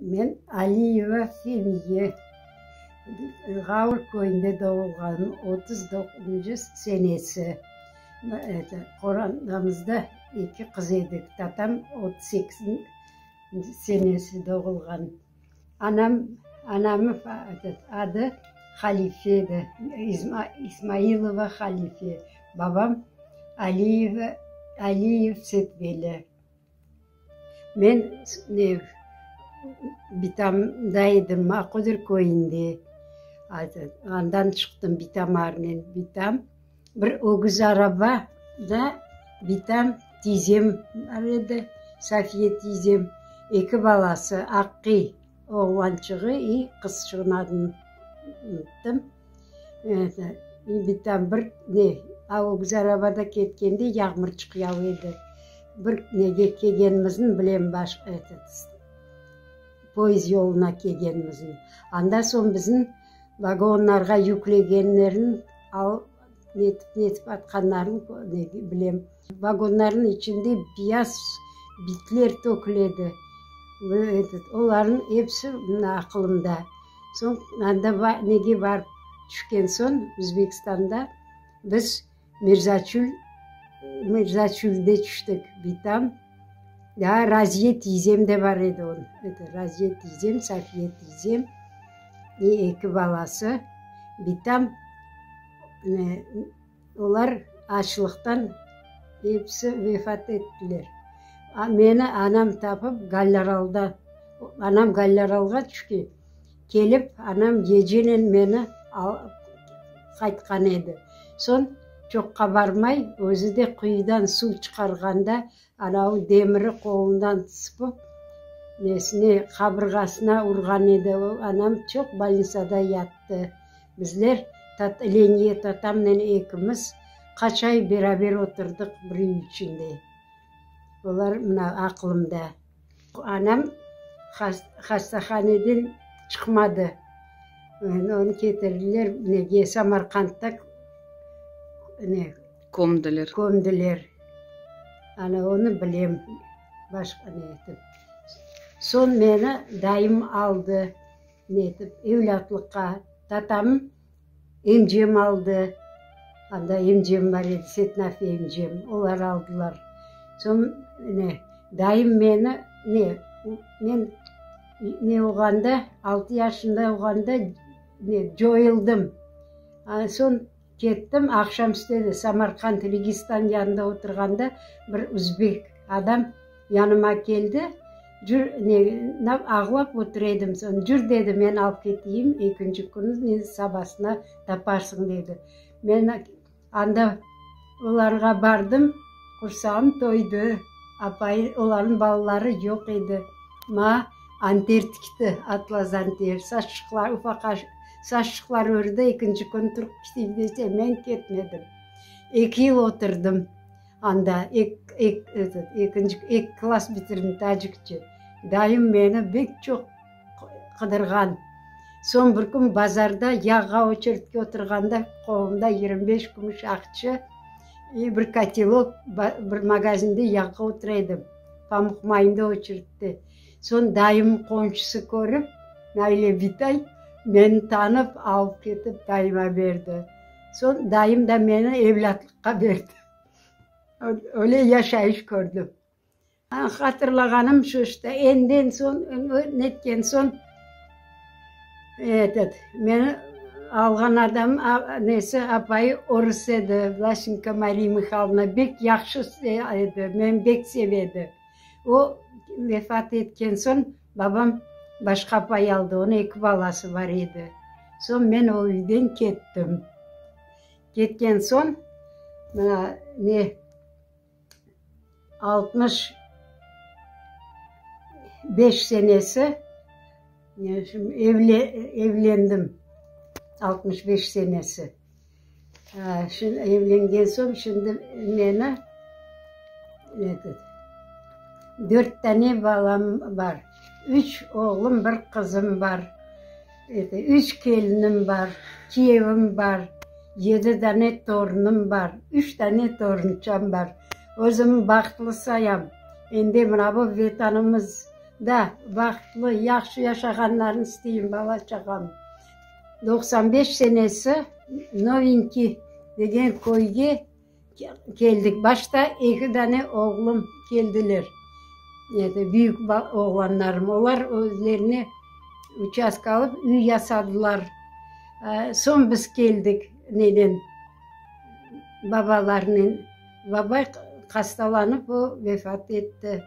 Men Aliyeva Femiye, Ğavur köyünde doğulğanım, otuz doquzuncu senesi. Eto, qorantamızda eki qız edik. Tatam otuz sekizinci senesi doğulğan. Anam, anamnı adı Halife edi, İzma, İzmailova Halife. Babam Aliyeva, Aliyev Setveli. Men Bitamda edim, Aqodır köyünde. Andan çıqtım Bitamarnen. Bitam, bir ögüz araba da Bitam tizem bar edi, Safiye tizem, eki balası, Aqi. Oğlançığı i qızçığın adını unutdım. Bitam bir ne, a o kiz arabada ketkende yağmur çıqyav edi. Bir nege kelgenimizin bilem baş etet, poezd yoluna kelgenimizin. Anda soñ bizim vagonlarğa yüklegenlerin al, netip netip atqanların bilem. Vagonlarnıñ içinde biyaz bitler töküledi. Olarnıñ episi mına aqılımda. Soñ anda nege barıp tüşken soñ, Özbekistanda biz Mirzaçül, Mirzaçülde tüştik. Bitam, daa Raziye tiyzem de bar edi onıñ. Raziye tiyzem, Safiye tiyzem, eki balası. Bitam, Olar açlıqtan episi vefat ettiler. Meni anam tapıp Gallaralda, anam Gallaralğa tüşken, kelip, anam gecenen meni alıp qaytqan edi. Soñ çoqqa barmay, özü de quyudan suv çıqarğanda Anavi demiri qolundan sıpıp, nesine, qabırğasına urğan edi. O, anam çoq bolnitsada yattı. Bizler, Leniye tatamnen ekimiz qaç ay beraber oturdıq bir üy içinde. Olar, mına, aqlımda. Anam hastahaneden çıqmadı. Onı ketirdiler, nege, Samarqandda kömdiler. Kömdiler. Ana, onı bilem. Başqa ne etip. Soñ meni dayım aldı, ne etip, evlâtlıqqa. Tatam. Emcem aldı, anda emcem bar edi, Setnafi emcem, olar aldılar. Soñ, ne, dayım meni, ne, men, ne olğanda, altı yaşında olğanda, ne, coyıldım. Soñ kettim, aqşamüstü edi, Samarqand, Registan yanında oturğanda bir üzbek adam, Yanıma keldi, jür, ne, nap, ağlap otur edim, soñ, jür, dedi, men alıp keteyim, ekinci kün, ne, sabasına taparsıñ, dedi. Men anda olarğa bardım, qursağım toydı, apayı, olarnıñ balaları yoq edi. Ma, anter tikti, atlas anter, saçlıqlar, ufaqa saçlıqlar ördi, ekinci kün turıp keteyim dese, men ketmedim. Eki yıl oturdım. Anda ekki klass bitirdim, tacikçe. Dayım meni bek çoq qıdırğan. Soñ bir kün bazarda yağğa oçeredke oturğanda qolumda yigirmi beş kümüş aqçı, bir kotelok, bir magazinde yağğa otura edim, pamuq mayında oçeredte. Soñ dayım qomşusı körip, Nailya bitay, meni tanıp, alıp ketip dayıma berdi. Soñ dayım da meni evlâtlıqqa berdi. Öyle yaşayış kördim. Hatırlağanım şu işte, önden soñ, netken soñ, etet, meni alğan adam, nesi, apayı orus edi, Vlaşenko Mariya Mihaylovna, bek yahşı edi, meni bek seve edi. O vefat etken soñ, babam başqa apay aldı, onıñ eki balası bar edi. Soñ men o üyden kettim. Ketken soñ, mına, ne, altmış beş senesi, evle, evlendim, altmış beş senesi. Evlengen soñ, şimdi meni, eto, dört tane balam bar. Üç oğlum, bir qızım bar. Üç kelinim bar, kiyevim bar, yedi dane torunım bar, üç dane torunçam bar. Özüm bahtlı sayam. Endi mına bu Vetanımızda bahtlı, yahşı yaşağanlarını isteyim bala-çağam. Doqsan beş senesi Novinki degen köyge. Keldik. Başta eki dane oğlum keldiler. Büyük oğlanlarım. Olar özlerine uçastka alıp, üy yasadılar. Soñ biz keldik nenen, babalarınen. Baba hastalanıp, o vefat etti.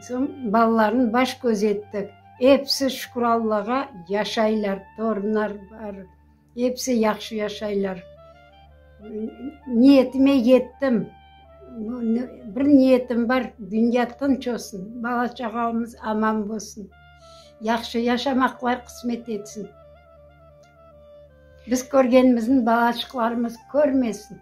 Soñ balalarnı baş-köz ettik. Episi, şükür Allağa, yaşaylar, torunlar bar. Episi yahşı yaşaylar. Niyetime yettim. Bir niyetim bar, dünya tınç olsun, bala-çağamız aman bolsun, yahşı yaşamaqlar qısmet etsin. Biz körgenimizni balaçıqlarımız körmesin.